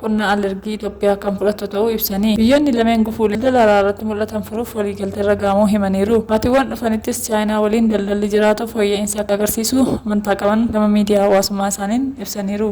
qonna alergii Itoophiyaa kan fudhatu ta'uu ibsanii, biyyoonni lameen gufuulee daldala alaa irratti mul'atan furuuf waliigalteerra ga'amuu himaniiru. Baatiwwan dhufanittis Chaayinaa waliin daldalli jiraatu fooyya'iinsa akka agarsiisu amantaa qaban gama miidiyaa hawaasummaa isaaniin ibsaniiru.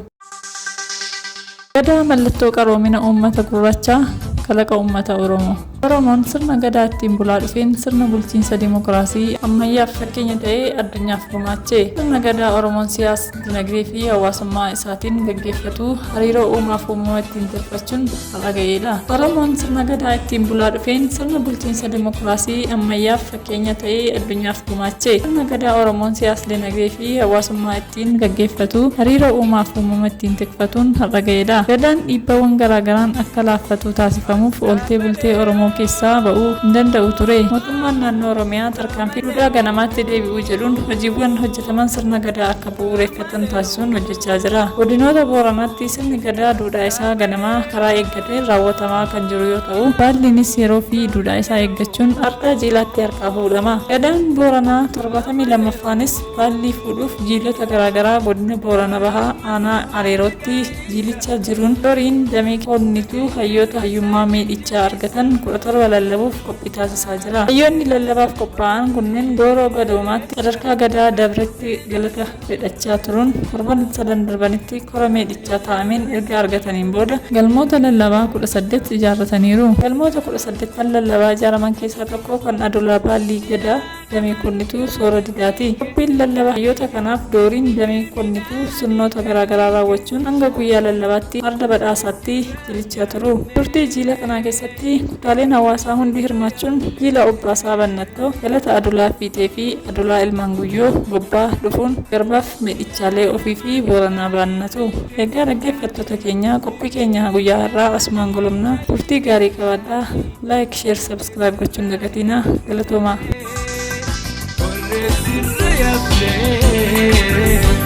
Gadaa mallattoo qaroomina uummata gurraachaa, kalaqa uummata Oromoo. Oromoon sirna Gadaa ittiin bulaa dhufeen sirna bulchiinsa dimokiraasii ammayyaaf fakkeenya ta'ee addunyaaf gumaache. Sirna Gadaa Oromoon siyaasa, dinagdee fi hawaasummaa isaatiin gaggeeffatu hariiroo uumaaf uumama ittiin tolfachuun har'a ga'eedha. Oromoon sirna Gadaa ittiin bulaa dhufeen sirna bulchiinsa dimokiraasii ammayyaaf fakkeenya ta'ee addunyaaf gumaache. Sirna Gadaa Oromoon siyaasa, dinagdee fi hawaasummaa ittiin gaggeeffatu hariiroo uumaaf uumama ittiin tikfatuun har'a ga'eedha. Gadaan dhiibbawwan garaagaraan akka laaffatu taasifamuuf ooltee bultee Oromoo keessaa ba'uu hin danda'u ture. Mootummaan naannoo Oromiyaa tarkaanfii duudhaa ganamaatti deebi'uu jedhuun hojiiwwan hojjetaman sirna gadaa akka bu'uureffatan taasisuun hojjechaa jira. Godinoota Booranaatti sirni gadaa duudhaa isaa ganamaa karaa eeggateen raawwatamaa kan jiru yoo ta'u, baalliinis yeroo fi duudhaa isaa eeggachuun ardhaa jiilaatti harkaa fuudhama. Gadaan Booranaa 72ffaanis Baallii fuudhuuf jiilota garaagaraa godina Boorana Bahaa aanaa Areerootti jiilichaa jiruun Doriin damee Koonnituu hayyoota hayyummaa miidhichaa argatan 17 lallabuuf qophii taasisaa jira. Hayyoonni lallabaaf qophaa'an kunneen Gooroo Gadoomaatti sadarkaa Gadaa dabretti galata fedhachaa turuun torban sadan darbanitti kora miidhichaa taa'ameen erga argataniin booda galmoota lallabaa 18 ijaarrataniiru. Galmoota 18n lallabaa ijaaraman keessaa tokko kan Adolaa Baallii Gadaa. damee konnituu soora didaati. Qophiin lallaba hayyoota kanaaf dooriin damee konnituu sirnoota garaagaraa raawwachuun hanga guyyaa lallabaatti farda badhaasaatti jilichaa turu. Turtii jiila kanaa keessatti kutaaleen hawaasaa hundi hirmaachuun jiila Obbaasaa Bannattoo, Galata Adulaa Fiixeefi Adulaa Ilmaan Guyyoo, Gobbaa, dhufuun Garbaaf miidhichaalee ofiifi Booranaa baannatu. Egaa dhaggeeffattoota keenya qophii keenya guyyaa har'aa asumaan golobna. Turtii gaarii qabaadhaa. Like, Share, Subscribe. Subscribe gochuun hin dagatinaa. Galatoomaa.